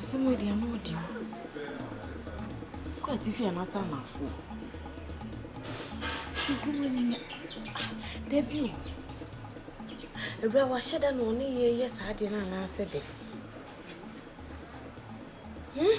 Asɛm wei deɛ ano ɔden. Kɔ atifi anaasɛ anafoɔ. Sukuu ani nya. Dabi o. Awura wahyɛ da na ɔne yɛ yɛ saa adeɛ no anaasɛ dɛ. Hmm?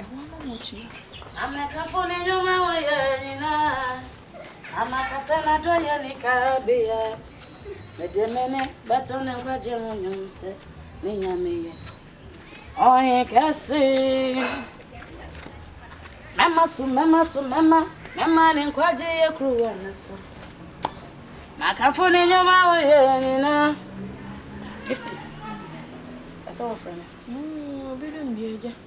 Ɛhɔ na motua. Na mɛkamfo ne nnwuma a wayɛ nyinaa, na maka sɛ n'adɔeɛ nni kabea. Mede me nne bɛto ne nkwagyeɛ ho nnwom sɛ me Nyame yɛ Ɔhene kɛse. Mɛma so, mɛma so, mɛma, mɛma ne nkwagyeɛ kuruwa no so. Makamfo ne nnwuma a wayɛ nyinaa. Gifty, ɛsɛ wɔfrɛ no. Mm, obi dum bi agya.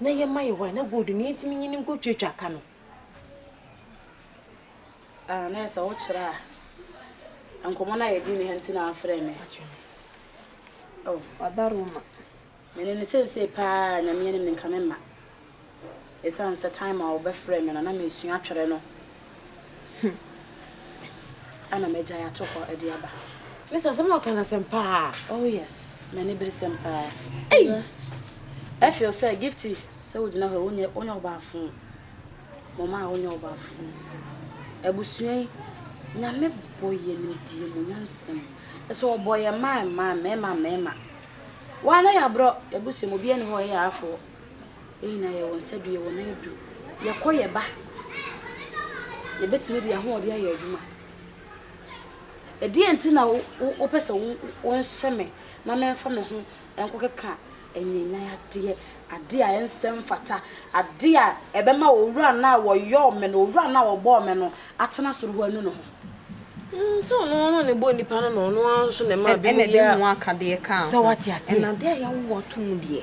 na yɛma yɛ hɔ a, na gold no yɛntumi nyi no nkɔtwatwa ka no. Ah, na yɛ sɛ wokyerɛ a, nkɔmmɔ no a yɛdi ne ha nti na afrɛ me. Oh. Ɔda Roma. Mene no sensei paa, Nyame anim no nka me mma. Ɛsiane sɛ time a wɔbɛfrɛ me no, na mesua atwerɛ no. Hum. Ana magyae ato hɔ de aba. Miss asɛm a ɔka no asɛm paa. Oh yes, m'ani bere sɛm paa. Ei! I feel sɛ Gifty sɛ wogyina hɔ wonyɛ wonyɛ ɔbaafo. Mo maa wonyɛ ɔbaafo. Abusua yi, Nyame bɔ yɛ nimdeɛ mu nyansa mu. Kyerɛ sɛ ɔbɔ yɛ mmaa mmaa, mmarima mmarima. Woa na yɛ aborɔ, yɛabusua mu obiara nni hɔ a ɔyɛ yɛ afoɔ. Yɛn nyinaa yɛwɔ nsa du, yɛwɔ nan du. Yɛkɔ, yɛba. Yɛbɛtumi de yɛn ahoɔden ayɛ adwuma. Ɛdeɛn nti na wopɛ sɛ wonhyɛ me na memfa me ho nkɔkeka anyanyan adeɛ, adeɛ a ɛnsɛ mfata, adeɛ a ɛbɛma Owura no a ɔyɔɔ me no, Owura no a ɔbɔɔ me no atena soro hɔ anu ne ho? Sɛ ɔno ara na ɔbɔɔ nnipa no na ɔno ara nso na ɛmaa binom yɛɛ. Ɛna ɛde ngo akadeɛ kaa ho. Sɛ woate aseɛ? Ɛna adeɛ a yɛawo atom deɛ.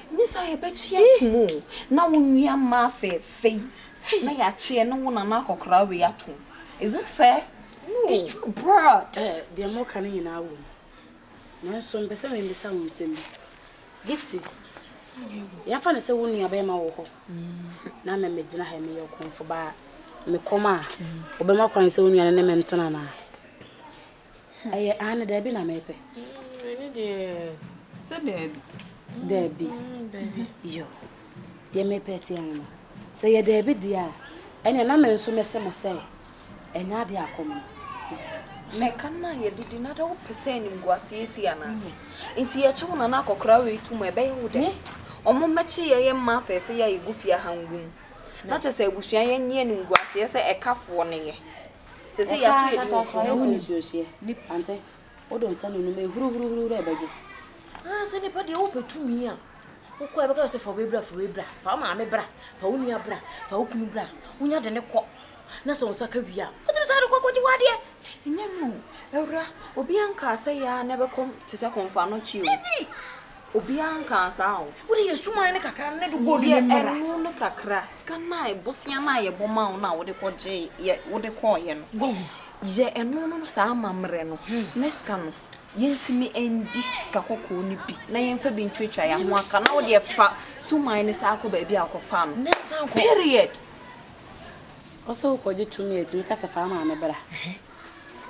Nyɛ saa a yɛbɛkye atom o. Na wo nua mmaa fɛɛfɛ yi na yɛakye ɛne wo nana akɔkoraa wei atom. Is it fair? No. It's too bad. Eh, deɛ moreka no nyinaa wɔ mu. Nanso mepɛ sɛ mebisa wo nsɛm bi. Gifty, yɛmfa no sɛ wo nuabarima wɔ hɔ na me megyina ha yi meyɛ ɔkɔmfo ba a, mekɔm a, wobɛma kwan sɛ wo nua no ne me ntena anaa? Ɛyɛ aane daabi na mepɛ. Mm, ɛne deɛ. Sɛ daabi. Daabi. Mm, mm daabi. Yo. Deɛ mepɛ ti ano no. Sɛ yɛ daabi deɛ a, ɛne na me nso mɛsɛ mo sɛ ɛnyɛ adeɛ akɔm no. Mɛka no a yɛdidi na da wopɛ sɛ animguaseɛ si anaa? Mm. Nti yɛkyɛ wo nana akɔkora wei to mu ɛbɛyɛ wo dɛ. Ɔmo mmɛkye yɛ yɛ mma afɛɛfɛ yɛ a yɛgu fie aha ngu mu. Na kyɛ sɛ abusua yɛnyɛ animguaseɛ sɛ ɛkafoɔ no yɛ. Ɔkaa na saa so ayɛ sɛ nsuo hyeɛ. Wode nsa nunu ma ɛhuru huru huru huru ɛbɛdwo. Haa sɛ nipa deɛ wopɛ tumi a wokɔ a ɛbɛka wo sɛ fa wobɛ bra fa wei bra fa wo maame bra fa wo nua bra fa wo kunu bra wonya de ne kɔ na sɛ wo nsa ka wie a wotumi saa de kɔ kɔgye wadeɛ. Ɛnyɛ me o awura obiaa nkaa sɛ yɛa na ɛbɛkɔ te sɛ kɔmfoano kyi o. Dabi! Obiara nkaa saa o. Wo de yɛ suman no kakra no ne de kɔɔ ne mmra. Yɛ ɛno no kakra. Sika no a bosea no a yɛbɔ maa wo no a wode kɔ gyee yɛ wode kɔɔeɛ no. Wahu. Yɛ ɛno no saa amammerɛ no na sika no yɛntumi ndi sika kɔkɔɔ no bi na yɛmfa bi ntwatwa yɛn ho aka na wo deɛ fa suman no saa kɔ baabi a wokɔfaa no. Period. Ɔsɛ wokɔgye tumi a ɛtumi ka sɛ fa wo maame bra.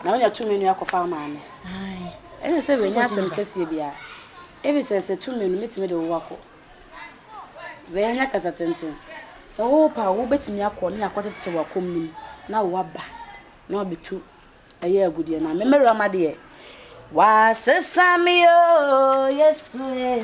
na onya tum nua kɔfa ama me. Ɛnyɛ sɛ wanya asɛm kɛseɛ biara, efisɛ sɛ tum no, mɛtumi de wo akɔ. Wanya kasa tenten. Sɛ wo pɛ a, wo bɛtumi akɔ ne akɔ tete w'akɔm no mu na waba na wabɛtu ɛyɛ agudeɛ no a. Me mɛwura ma deɛ. Wasesa me oo, Yesu ee.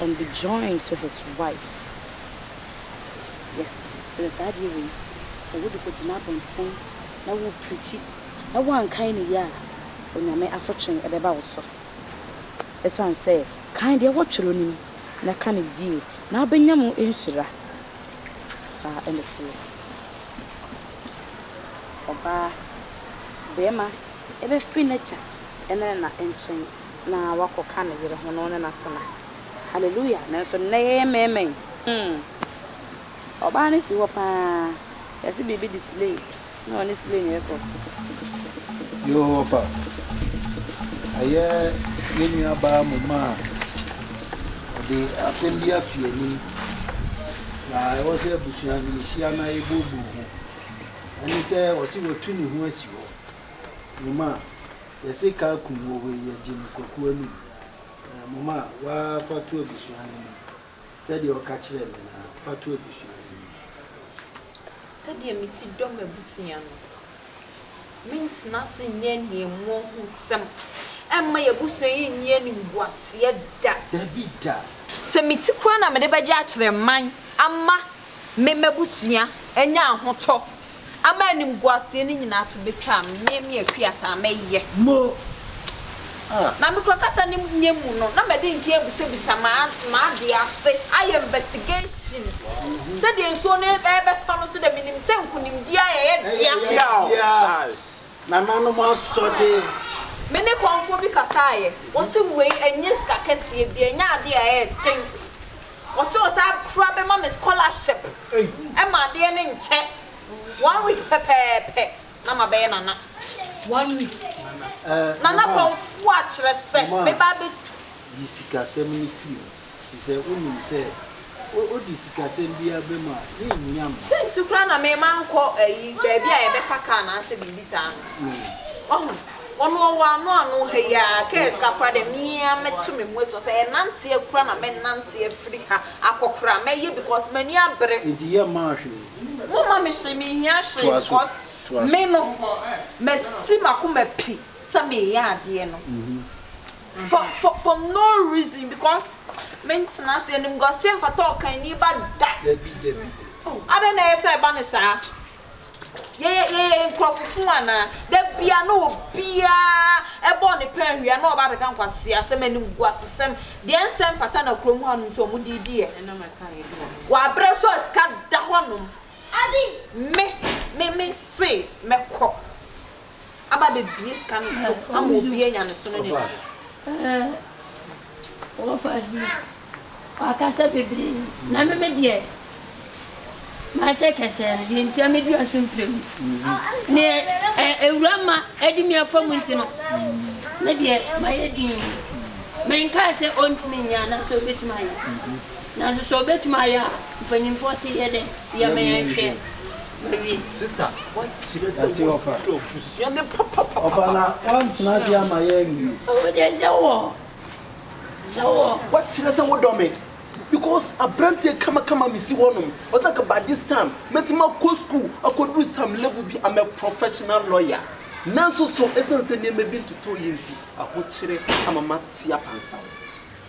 and be joined to his wife yes ɛnɛ saa adeɛ wei sɛ wode kɔ gyina abonten na wo preachi na woankan no yie a onyame asotwee ɛbɛba wo so ɛsiane sɛ kan deɛ wɔ twerɛ no mu na ka no yie na wobɛnya mu nhyira saa ɛna teɛ ɔbaa bɛɛma ɛbɛfiri nagya ɛne ne na nkyɛn. na wakɔka ne yere ho na ɔne no atena. Hallelujah! Nanso nnɛ yɛyɛ mmarima yi, hmm, ɔbaa no si hɔ pa ara, yɛse biribi de slay na ɔne slay no rekɔ. Yoo ɔfa, ɛyɛ yɛn nua baa Muma a ɔde asɛm bi ato yɛn anim, na ɛwɔ sɛ abusua no yɛhyia na yɛbuebue ho. Ɛne sɛ ɔse watu ne ho asi hɔ. Muma, Yɛse car kum wɔ wei yɛgye no kwaku anum ɛɛ moma wa fa to abusua no mu sɛdeɛ ɔka kyerɛɛ me no ara fa to abusua no mu. Sɛdeɛ mesi dɔ m'abusua no mentena ase nyɛ animuo ho nsɛm ɛmma y'abusua yi nni animguaseɛ da. Dabi da. Sɛ meti koraa na mede bɛgye akyerɛ man ama. me m'abusua anya ahotɔ ama animguaseɛ no nyinaa to bɛtwa a, me me Akuataa mɛyɛ. Mo! Ah! Na me kura kasa no nyɛ mu no, na mɛde nkeɛ abisabisa m'ade ase, ayɛ investigation. Sɛdeɛ nsuo no ɛrebɛtɔ no so deɛ, menim sɛ nkunimdie a yɛyɛ dea. Yaw! Nananom asɔde. Me ne kɔmfoɔ bi kasaeɛ, ɔse wei ɛnyɛ sika kɛseɛ bi, ɛnyɛ adeɛ a ɛyɛ den. Ɔse ɔsan kora bɛma me scholarship ma adeɛ no nkyɛ one week pɛpɛɛpɛ na mabɛyɛ Nana. One week Nana Kɔmfoa kyerɛ sɛ meba abɛtu. Yi sikasɛm no firi mu firi sɛ wonim sɛ wode sikasɛm biara bɛm a yɛnnya mma. Sɛ nti koraa na mema nkɔ ayi baabi a yɛbɛfa car anaasɛ biribi saa no. Wahu? Ɔno ɔwɔ ano ano ha yi ara kɛɛ sika koraa dɛ me ara mɛto me mu esuo sɛ ɛnanteɛ koraa na mɛnante afiri ha akɔ koraa mɛyɛ because m'ani abere. Nti yɛ mmaa hwee. Mo ma me hwee me hia hwee because me no masi m'akoma pi sɛ me yɛ adeɛ no for for for no reason because me ntena ase animguaseɛ mfata ɔkanni ba da. Dabi dabi dabi. Adɛn na ɛyɛ sɛ ɛba no saa. Yɛyɛ yɛyɛ nkurɔfo fun anaa? Da biara na obiara bɔ ne pɛn hwia na ɔba abɛka nkwaseasɛm, animguasesɛm, deɛ ɛnsɛ mfata na kurom hanom nso wɔde redi yɛ. Wɔabrɛ so a sika da hɔnom. Me, me, mese mɛkɔ. aba abɛbue sika no so ama obi anya ne so ne ne deɛ. Wɔfase wakasa bebree na me me deɛ masɛ kɛsɛɛ no deɛ nti a me dua so mpire mu ne ewura ma ɛde mi afa mu nti no me deɛ mayɛ din menkaa sɛ ɔntumi nyɛ anaasɛ ɔbɛtumi ayɛ nanso sɛ ɔbɛtumi ayɛ a mpanyimfoɔ se yɛ dɛ yɛ mɛnhwɛ Mary sista wakyerɛ sɛ wɔdɔ abusua no papapapa. Ɔfa na wantena ase ama yɛn bio. Wo deɛ sɛ wɔ sɛ wɔ. Wakyerɛ sɛ wodɔ me because abranteɛ kamakama mesi hɔ nom ɔsɛ anka by this time mɛtumi akɔ school akɔduru some level bi am a professional lawyer nanso so ɛsiane sɛ nneɛma bi ntotɔɔ yie nti ahokyere ama mate apansam.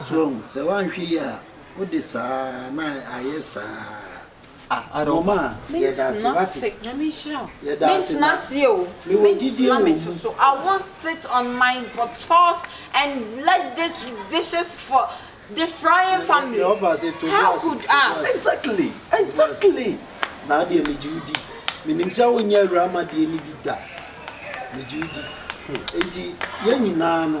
So woahu? Sɛ woanhwɛ yie a, wode saa ara na ayɛ saa ara. Mom a, yɛda ase, woate? Yɛda ase, na mewɔ gyidie wɔ mu. Deɛ ɔfa ase, to bo ase, to bo ase. Exactly, exactly! Na adeɛ, megye wo di. Menim sɛ wonyɛ awuramadeɛ no bi da. Megye wo di. Enti yɛn nyinaa no.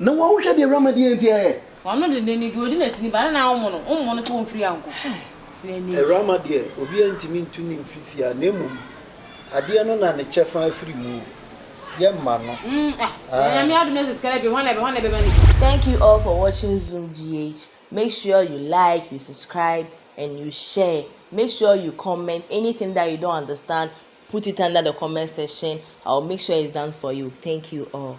Na wɔn ahohwɛ deɛ Awurama deɛ nti ɛɛ. W'ano denden ne deɛ ɔdi n'akyi no ba ne na wommo no, wommo no sɛ ɔmfiri ankɔ. Awurama deɛ obiara ntumi ntu no mfiri fie ha, na mmom adeɛ no na ne kyɛfa afiri mu o, yɛmma no aah. Thank you all for watching Zoom GH make sure you like you subscribe and you share make sure you comment anything that you don't understand put it under the comment section I will make sure it's done for you thank you all.